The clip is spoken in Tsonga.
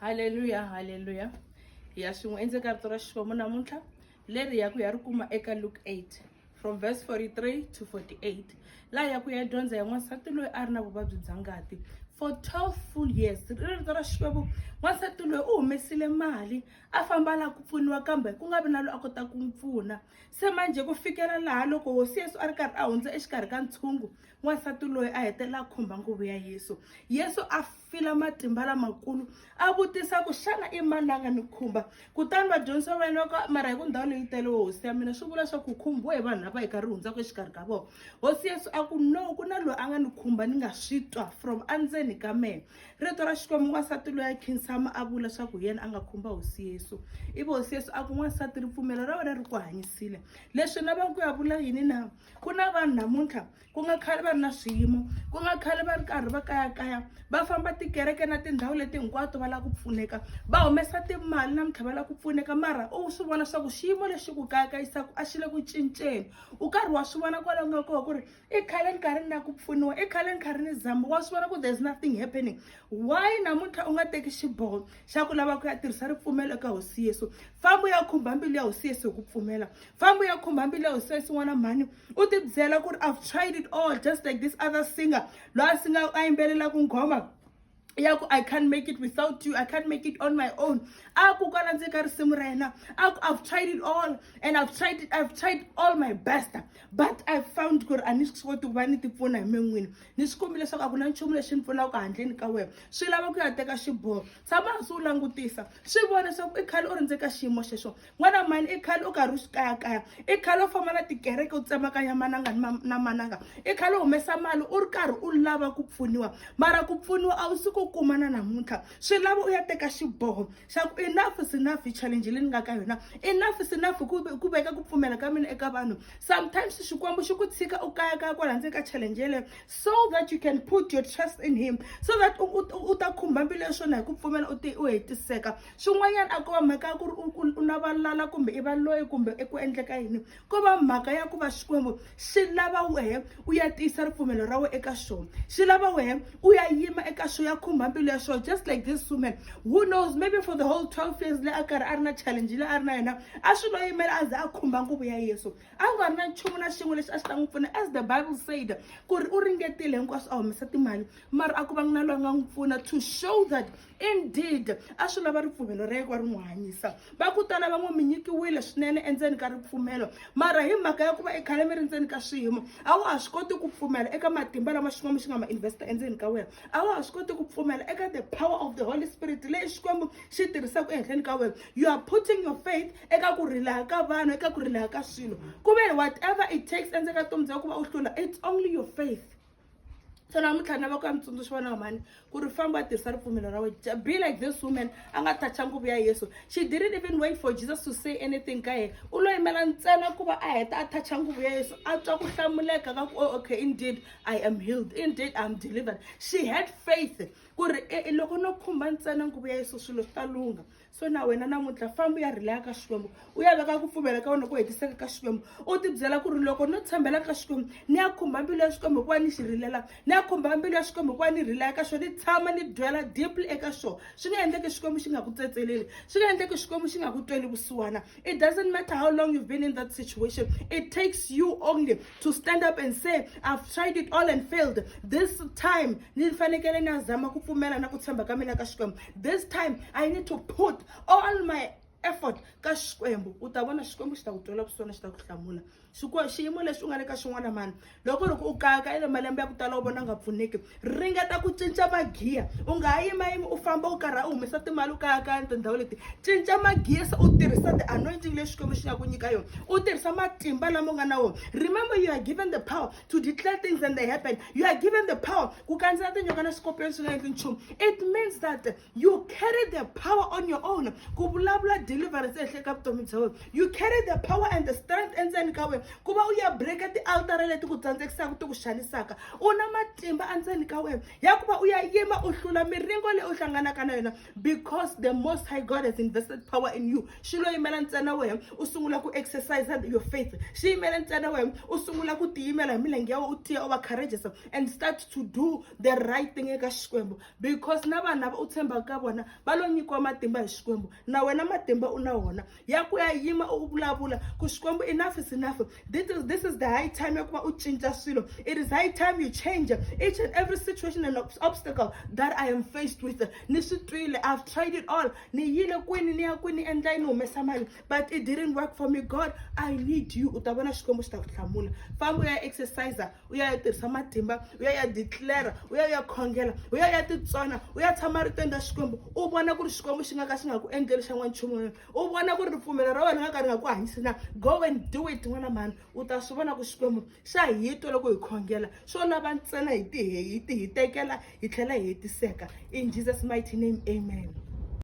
haleluya haleluya hi ya swin'we endzeni ka rito ra xikwembu namuntlha leri ya ku ya ri kuma eka luke 8 from verse 43 to 48 laha ya ku ya dyondza ya n'wansati loyi a ri na vuvabyi bya ngati for 12 full years ri rito ra xikwembu n'wansati loyi u humesile mali a famba laha ku pfuniwa kambe ku nga vi na loyi a kotaka ku n'wi pfuna se manjhe ku fikela laha loko hosi yesu a ri karhi a hundza exikarhi ka ntshungu n'wansati loyi a hetelela a khumba nguvu ya yesu yesu a fila matimba lamakulu a vutisa ku xana i mani la nga ni khumba kutani vadyondzisi va vayeni va ku mara hi ku ndhawu leyi tele wo hosi ya mina swi vula swa ku khumbiwe hi vanhu lava hi karhi hundzaka exikarhi ka vona hosi yesu a ku no ku na loyi a nga ni khumba ni nga swi twa from andzeni ka mehe rito ra xikwembu n'wansati loyi a khinsama a vula swa ku hi yena a nga khumba hosi yesu ivi hosi yesu a ku n'wansati ripfumelo ra wena ri ku hanyisile leswi na va ku ya vula yini na ku na vanhu namuntlha ku nga khale va ri na swiyimo ku nga khale va ri karhi va kayakaya va famba tikereke na tindhawu leti hinkwato va lava ku pfuneka va humesa timali na mintlha va lava ku pfuneka mara u swi vona swa ku xiyimo lexi ku kayakayisaka a xi le ku cinceni u karhi wa swi vona kwalaho nga kona ku ri i khale ni karhi ni lava ku pfuniwa i khale ni karhi ni zama wa swi vona ku there's nothing happening why namuntlha u nga teki xiboho xa ku lava ku ya tirhisa ripfumelo eka hosi yesu famba u ya khumba mbilu ya hosi yesu hi ku pfumela famba u ya khumba mbilu ya hosi yesu n'wana mhani u ti byela ku ri i've tried it all just like this other singer loyi a singa a yimbelelaka nghoma ya ku i can't make it without you i can't make it on my own a ku kwala ndzi ka risimu ra yena a ku i've tried it all and i've tried it i've tried all my best but i found ku ri a ni swi koti ku va ni tipfuna hi men'wini ni swi kumbi leswaku a ku na nchumu lexi ni pfunaka handleni ka wena swi lava ku ya teka xiboho tshama hansi u langutisa swi vona leswaku i khale u ri ndzi ka xiyimo xexo n'wana mani i khale u karhi u swi kayakaya i khale u famba na tikereke u tsemakanya mananga na mananga i khale u humesa mali u ri karhi u lava ku pfuniwa mara ku pfuniwa a wu si ku kuma na namuntlha swi lava u ya teka xiboho xa ku enough is enough hi challenge leyi ni nga ka yona enough is enough ku veka ku pfumela ka mina eka vanhu sometimes xikwembu xi ku tshika u kayakaya kwala ndzeni ka challenge yeleyo so that you can put your trust in him so that u ta khumba mbilu ya swona hi ku pfumela u hetiseka swin'wanyana a ko va mhaka ya ku ri u na valala kumbe i va loyi kumbe eku endleka yini ko va mhaka ya ku va xikwembu swi lava wehe u ya tiyisa ripfumelo ra wena eka xona swi lava wehe u ya yima eka xo ya khumba mbilu ya xona just like this woman who knows maybe for the whole 12 years leyi a karhi a ri na challenge leyi a ri na yona a swi lo yimela a ze a khumba nguvu ya yesu a nga ri na nchumu na xin'we lexi a xi ta n'wi pfuna as the bible said ku ri u ringetile hinkwaswo a humesa timali mara a ku va ngi na loyi a nga n'wi pfuna to show that indeed a swi lava ripfumelo ra yekwa ri n'wi hanyisa va ku tala va n'wi mi nyikiwile swinene endzeni ka ripfumelo mara hi mhaka ya ku va i khale mi ri ndzeni ka swiyimo a wa ha swi koti ku pfumela eka matimba lama xikwembu xi nga ma investa endzeni ka wena a wa ha swi koti ku pfumela eka the power of the holy spirit leyi xikwembu xi tirhisaka ehenhleni ka wena you are putting your faith eka ku rilaha ka vanhu eka ku rilaha ka swilo ku ve whatever it takes endzeni ka vutomi bya ku va u hlula it's only your faith so namuntlha na va ku ya mitsundzuxi vana wa mhani ku ri famba a tirhisa ripfumelo ra wena be like this woman a nga toucha nguvu ya yesu she didn't even wait for jesus to say anything ka yena u lo yimela ntsena ku va a heta a toucha nguvu ya yesu a twa ku hlamuleka ka ku oh, okay indeed i am healed indeed iam delivered she had faith ku ri e, e, loko no khumba ntsena nguvu ya yesu swilo swi ta lungha so na wena namuntlha famba u ya rhileka ka xikwembu u ya veka ku pfumela ka wena ku hetiseka ka xikwembu u tibyela ku ri loko no tshembela ka xikwembu ni ya khumba mbilu ya xikwembu hikuva ni xi rilela ni ya khumba mbilu ya xikwembu hikuva ni rhileka ka xona ni tshama ni byela deeply eka xona swi nga endleki xikwembu xi nga ku tsetseleli swi nga endleki xikwembu xi nga ku tweli vusiwana it doesn't matter how long you've been in that situation it takes you only to stand up and say i've tried it all and failed this time ni fanekele ni ya zama ku pfumela na ku tshemba ka mina ka xikwembu this time i need to put all my effort ka xikwembu u ta vona xikwembu xi ta ku twela kusona xi ta ku hlamula xiyimo lexi u nga le ka xin'wana mani loko u ri ku u kayaka i le malembe ya ku tala u vona nga pfuneki ringeta ku cinca magiya u nga ha yimayimi u famba u karhi u humesa timali u kayakaya ni tindhawu leti cinca magiya se u tirhisa the anointing leyi xikwembu xi nga ku nyika yona u tirhisa matimba lama u nga na wona remember you are given the power to declare things and they happen. You are given the power. It means that you carry the power on your own. You carry the power and the strength and then kawe. Kuba uya break the altar leti ku tsandzekisa ku xanisaka. Una matimba andzeni ka wena. Ya kuba uya yima u hlula miringo leyi u hlanganaka na yona. because the most high god has invested power in you xi lo yimela ntsena wena u sungula ku exercise your faith xi yimela ntsena wena u sungula ku tiyimela hi milenge ya wena u tiya u va courageous and start to do the right thing eka xikwembu because na vanhu lava u tshembaka ka vona va lo nyikiwa matimba hi xikwembu na wena matimba u na wona ya ku ya yima u vulavula ku xikwembu enough is enough this is, this is the high time ya ku va u cinca swilo it is high time you change each and every situation and obstacle that i am faced with ni swi twile i've tried it all ni yile kwini ni ya kwini ni endla yi ni humesa mali but it didn't work for me god i need you u ta vona xikwembu xi ta ku hlamula famba u ya exercise u ya ya tirhisa matimba u ya ya declara u ya ya khongela u ya ya titsona u ya tshama ritweni ra xikwembu u vona ku ri xikwembu xi nga ka xi nga ku endleli xa n'wanchumu wena u vona ku ri ripfumelo ra wena nga ka ri nga ku hanyisi na go and do it n'wana mhani u ta swi vona ku xikwembu xa hi twa loko hi khongela swo lava ntsena hi ti hi ti hi tekela hi tlhela hi hetiseka in jesus mighty name amen